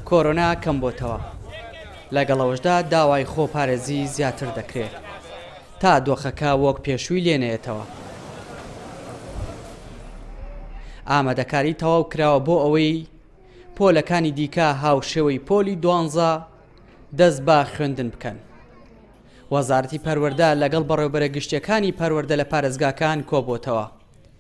کۆرۆنا کەمبۆتەوە، لەگەڵئەوەشدا داوای خۆ پارێزی زیاتر دەکرێ تا دۆخەکە وۆک پێشووی لێ نەیەتەوە. ئامادەکاری تەواو کراوە بۆ ئەوەی پۆلەکانی دیکە هاوشێوەی پۆلی دوانزە دەست بە خوێندن بکەن. وەزارەتی پەروەردە لەگەڵ بەڕێوبەرە گشتیەکانی پەروەردە لە پارێزگاکان کۆبۆتەوە.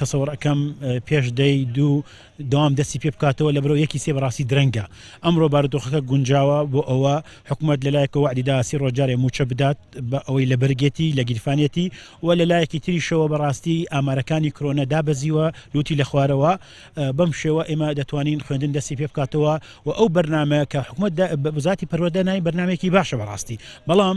تەسەوڕ ئەکەم پێش دەی دوو دەوام دەستی پێ بکاتەوە لە بەرەو یەکی سێ بەڕاستی درەنگە ئەمڕۆ بارودۆخەکە گونجاوە بۆ ئەوە حکومەت لەلایەکە وەعدی دا سی ڕۆژ جارێ مووچە بدات بە ئەوەی لە بەرگێتی لە گیرفانێتی و لە لایەکی تریشەوە بەڕاستی ئامارەکانی کرۆنە دابەزیوە لوتی لە خوارەوە بەم شێوە ئێمە دەتوانین خوێندن دەستی پێ بکاتەوە و ئەو بەرنمەیە کە حکومەت بە بزاتی پەروەدە نای بەرنمێکی باشە بەڕاستی بەڵام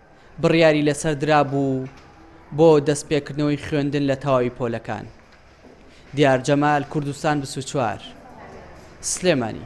بڕیاری لەسەر درابوو بۆ دەستپێکردنەوەی خوێندن لە تەواوی پۆلەکان، دیار جەمال، کوردستان بیست و چوار، سلێمانی.